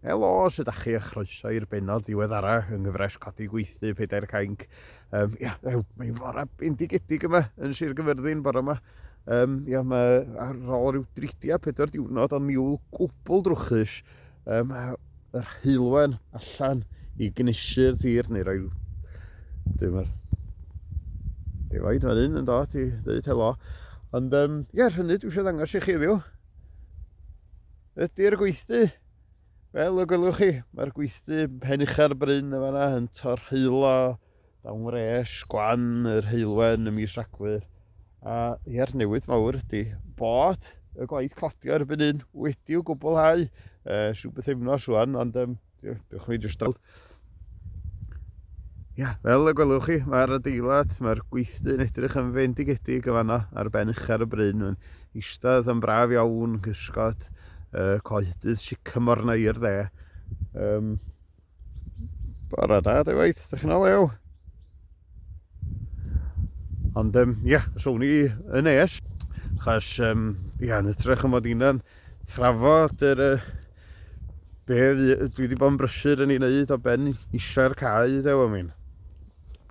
Helo, sut ydych chi a chroeso i'r benod ddiweddara yng nghyfres Codi Gweithdy Pedair Cainc. Um, ia, mae'n fore bendigedig yma yn Sir Gyfyrddin bore yma. Um, ia, mae ar ôl rhyw 34 diwrnod o niwl gwbl drwchus, um, yr heulwen allan i gnesu'r tir neu roi... Dwi'n meddwl... Defaid fan hyn yn dod i ddweud helo. Ond um, ia, rhynny dwi eisiau ddangos i chi ddiw. ydy'r gweithdy. Fel y gwelwch chi, mae'r gweithdy pen ucha'r bryn yn fanna yn torheilo dawn wres gwan yr heilwen ym mis Rhagfyr. A i'r newid mawr ydy bod y gwaith cladio erbyn hyn wedi'w gwblhau. Uh, rhyw bythefnos rwan, ond um, Diolch chi jyst dal. Ia, fel y gwelwch chi, mae'r adeilad, mae'r gweithdy yn edrych yn fendigedig y fanna ar ben uchar y bryn. Mae'n eistedd yn braf iawn, cysgod, uh, coedydd sycamor na i'r dde. Um, Bora da, dy waith, ydych chi'n olew. Ond, um, ia, so ni yn es, chas, um, ia, yn ytrach yn fod i'n trafod yr, uh, Be fi, dwi wedi bod yn brysur yn ei wneud o ben isio'r cae i ddew am un.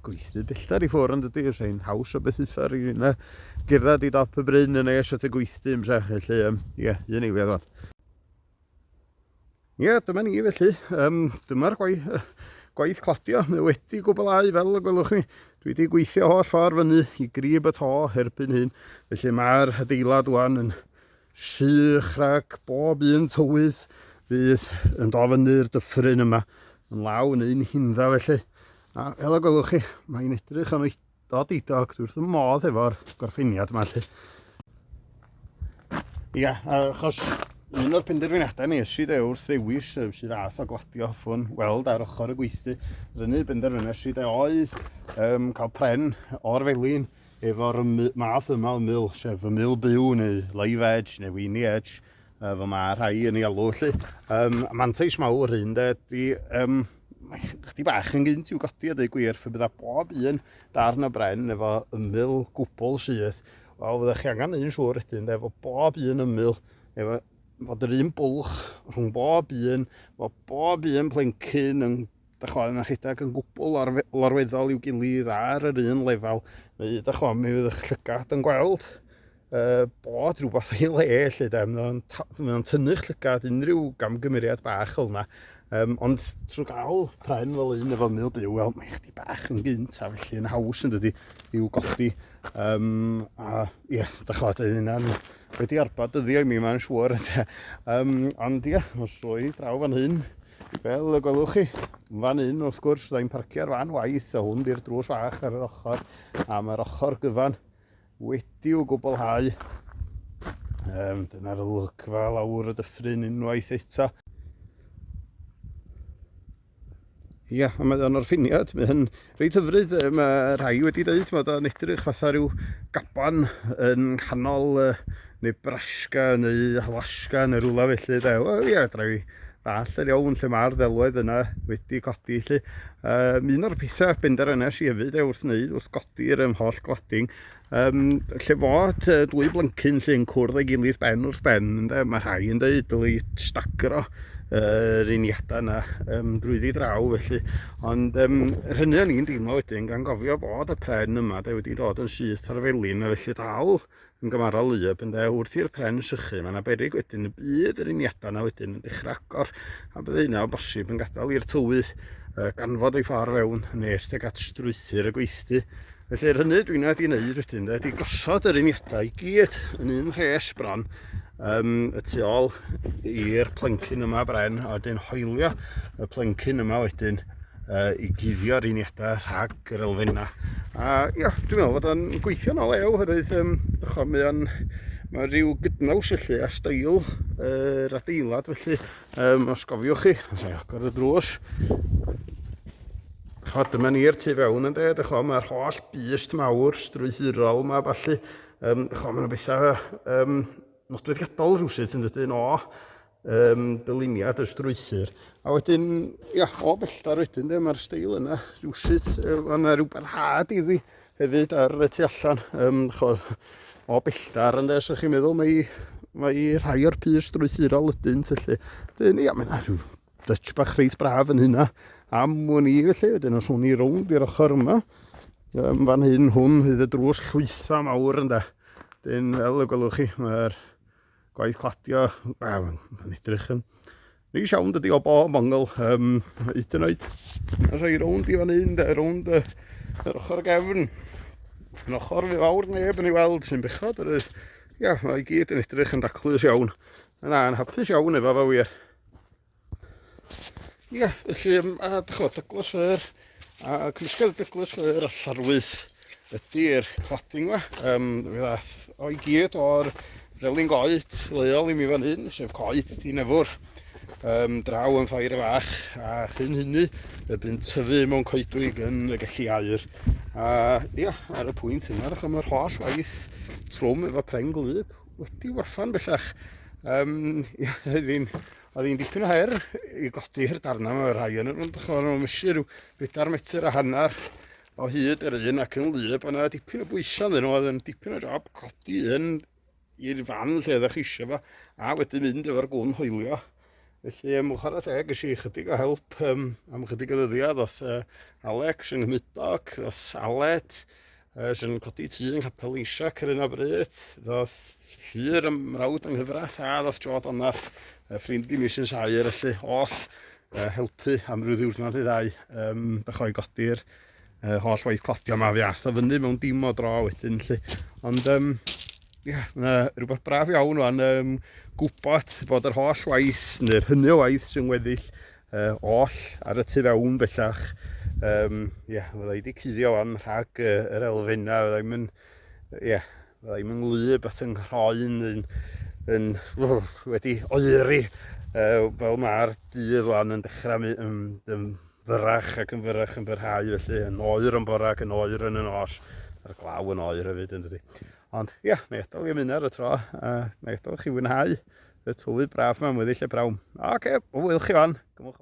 Gweithdy bellter i ffwr yn dydy, yw'r ein haws o beth uffar i yna gyrraedd i dop y bryn yn ei eisiau y gweithdy yn sech, felly, um, ie, yeah, un ei feddwl. Ie, yeah, dyma ni felly, um, dyma'r gwaith, gwaith cladio, mae wedi gwblhau fel y gwelwch chi. Dwi wedi gweithio holl ffordd fyny i grib y to erbyn hyn, felly mae'r adeilad wan yn sych rhag bob un tywydd fydd yn dod fyny'r dyffryn yma yn law yn un hindda felly. A fel y gwelwch chi, mae'n edrych yn oedod i dog, dwi wrth y modd efo'r gorffeniad yma felly. Ia, achos un o'r penderfyniadau ni ysyd e wrth ddewis sydd ath o gladio ffwn weld ar ochr y gweithdy, rynu benderfyniad sydd e oedd um, cael pren o'r felin Efo'r math yma o mil, sef y mil byw neu live edge neu weeny edge, uh, fel mae rhai yn ei alw felly, um, mantais mawr hyn de, di, um, mae chdi bach yn gynt i'w godi a dweud gwir, fe bydda bob un darn o bren efo ymyl gwbl syth, wel fyddech chi angen un siŵr ydyn, de, efo bob un ymyl, efo fod yr un bwlch rhwng bob un, fod bob un plencyn yn dych chwa, yn rhedeg yn gwbl lorweddol i'w gilydd ar yr un lefel, neu dych chwa, mi fydd eich llygad yn gweld uh, bod rhywbeth ei le, lle de, mae o'n tynnu'ch llygad unrhyw gamgymeriad bach fel yna. Um, ond trwy gael pren fel un efo mil byw, wel, mae chdi bach yn gynt a felly yn haws yn dydy i'w godi. Um, a ie, yeah, da chwa, dyn yna'n wedi arbad dyddio i mi, mae'n siŵr. Um, ond ie, yeah, os roi draw fan hyn, Fel y gwelwch chi, fan hyn wrth gwrs, da i'n parcio'r fan waith a hwn di'r drws fach ar yr ochr, a mae'r ochr gyfan wedi'w gwblhau. Um, Dyna'r olygfa lawr y dyffryn unwaith eto. Ia, a mae o'n orffiniad, mae hyn Reit hyfryd, mae rhai wedi dweud, mae o'n edrych fatha rhyw gaban yn nghanol uh, Nebraska neu Alaska neu rhywle felly de. Wel ie, dra i ddall yn iawn lle mae'r ddelwedd yna wedi codi felly. Um, un o'r pethau benderfynais i hefyd e, wrth wneud, wrth godi'r um, holl glading, Um, lle fod uh, dwy blyncyn lle'n cwrdd ei gilydd ben wrth ben, ynde? mae rhai yn dweud dylai stagro yr uh, uniadau yna um, drwyddi draw felly. Ond um, yr hynny o'n i'n deimlo wedyn, gan gofio bod y pren yma de, wedi dod yn syth ar felin, a felly dal yn gymarol lyb ynde, wrth i'r pren sychu, mae yna berig wedyn y bydd yr uniadau yna wedyn yn dechrau agor, a bydd yna o bosib yn gadael i'r tywydd uh, ganfod ei ffordd fewn nes teg at strwythyr y gweithdy. Felly yr hynny dwi'n wedi wneud wedyn de, ydy gosod yr uniadau i gyd yn un rhes bron um, y tu ôl i'r plencyn yma bren a wedyn hoelio y plencyn yma wedyn uh, i guddio'r uniadau rhag yr elfennau. A ia, dwi'n meddwl fod o'n gweithio'n ôl ew, hyrwydd um, ycho, mae o'n mae rhyw gydnaws felly a stael yr uh, adeilad felly Um, os gofiwch chi, os ei agor y drws, cho, dyma ni'r tu fewn yn dweud, cho, mae'r holl bust mawr, strwythurol yma, falle, um, cho, mae'n bethau um, nodweddiadol rhywsut yn dydyn o um, dyluniad y strwythur. A wedyn, ia, o belltar wedyn, de, mae'r steil yna rhywsut, um, yna rhyw barhad iddi, Hefyd ar y tu allan, um, cho, o belltar ynde, os ydych chi'n meddwl, mae, mae rhai o'r pys drwythurol ydyn, felly. Dyn, ia, mae'n rhyw dutch bach reit braf yn hynna am wn i, felly, wedyn os hwn i rownd i'r ochr yma, um, fan hyn hwn, hyd y drws llwytha mawr ynde. Dyn, fel y gwelwch chi, mae'r Gwaith cladio, wel, mae'n edrych yn neis iawn dydy o bob ongl. Um, hyd yn oed, yn rhoi rownd i fan hyn, de, rownd y, yr ochr gefn. Yn ochr fi fawr neb yn ei weld sy'n bechod. Yr, ia, mae i gyd yn edrych yn daclus iawn. Yna, yn hapus iawn efo fe wir. Ie, yeah, felly, um, a dychod, Douglas Fair, a cymysgedd Douglas Fair a Llarwyth ydy'r cladding yma. Um, fe ddath o i gyd o'r ddelyn goed leol i mi fan hyn, sef coed di nefwr, um, draw yn ffair y fach, a chyn hynny y bu'n tyfu mewn coedwig yn y gelli air. A ia, ar y pwynt yna, ddech mae'r holl waith trwm efo preng glyb wedi warfan bellach. Um, ia, hyddi'n Oedd hi'n dipyn o her i godi'r darnau yma, rhai yn nhw'n dychmyg nhw'n mysio rhyw bedair metr a hanner o hyd yr un ac yn lyb, ond yna dipyn o bwysau yn nhw, oedd yn dipyn o job codi un i'r fan lle ydych chi eisiau fo, a wedyn mynd efo'r gwn hoelio. Felly, ym mwchor y teg, eisiau i chydig o help um, am chydig o ddyddiad, oedd uh, Alex yng Nghymudog, oedd Aled, Ers yn codi tu yng Nghapel Eisiac ar un o bryd, ddoth llyr ym mrawd yng nghyfraith a ddoth Jo Donach, ffrind i mi sy'n saer, felly oll uh, helpu am ryw ddiwrnod i ddau um, dychoi godi'r uh, holl waith cladio yma fi ath o fyny mewn dim o dro wedyn lly. Ond um, Ia, na, rhywbeth braf iawn o'n um, gwybod bod yr holl waith, neu'r hynny o waith sy'n weddill uh, oll ar y tu fewn bellach. Um, ia, fydda i wedi cuddio o'n rhag uh, yr elfenna, fydda i'n mynd, ia, fydda i'n mynd nglyb at yng nghroen yn, yn, yn wedi oeri uh, fel mae'r dydd o'n yn dechrau um, um, fyrrach ac yn fyrrach yn byrhau felly yn oer yn bora ac yn oer yn y nos a'r glaw yn oer hefyd yn dydy. Ond ia, yeah, na i adael i ymuno ar y tro a uh, na i adael chi fwynhau y tywydd braf yma mwyddill y brawn. Oce, okay, o wyl chi fan. Gymwch.